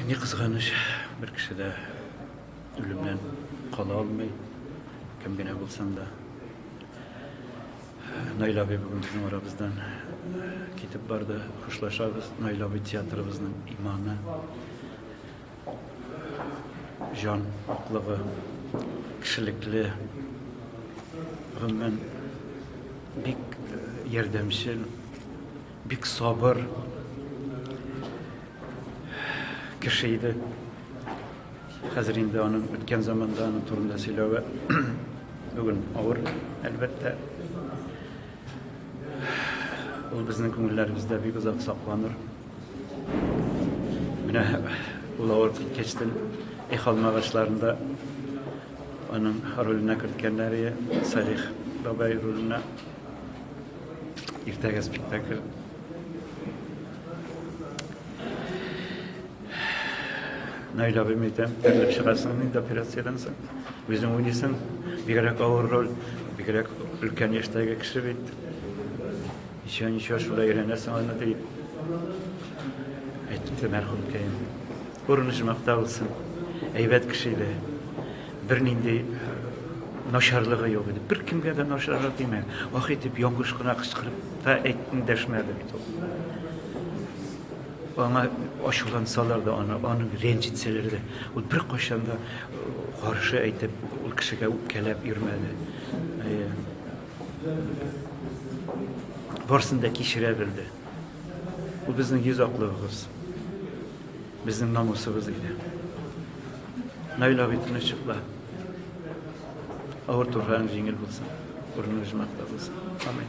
Ни кызганыч, бер кеше дә үлемнән кала алмый, кем генә булсаң да. Найла абый бүген безнең арабыздан китеп барды. Хушлашабыз. Найла абый театрыбызның иманы, җан аклыгы, кешелекле, гомумән бик ярдәмчел, Бик сабыр кеше иде. Хәзер инде аның үткән заманда аның турында сөйләве бүген авыр, әлбәттә. Ул безнең күңелләребездә бик озак сакланыр. Менә ул авыр киткәчтен их алмагачларында аның роленә керткәннәре Салих бабай роленә Иртәгә спектакль. Наиль абыйм әйтәм, терелеп чыгасың инде операциядән соң. Үзең уйныйсың, бигрәк авыр роль, бигрәк өлкән яшьтәге кеше бит. Ничего, ничего, шулай өйрәнәсең аны дип. Әйтте мәрхүмкәем. Урынышмакта булсын. Әйбәт кеше иде. Бернинди начарлыгы юк иде. Беркемгә дә начаррак димә. Ах итеп яңгыш кына кычкырып та әйтми дәшмәде бит ул. Аңа ачулансалар да, аны, аны рәнҗетсәләр дә, ул беркайчан да каршы әйтеп, ул кешегә үпкәләп йөрмәде. Барсын да кичерә белде. Ул безнең йөз аклыгыбыз. Безнең намусыбыз иде. Наил абый тынычлыкта авыр турфан җиңел булсын, урыны җмакта булсын. Амин.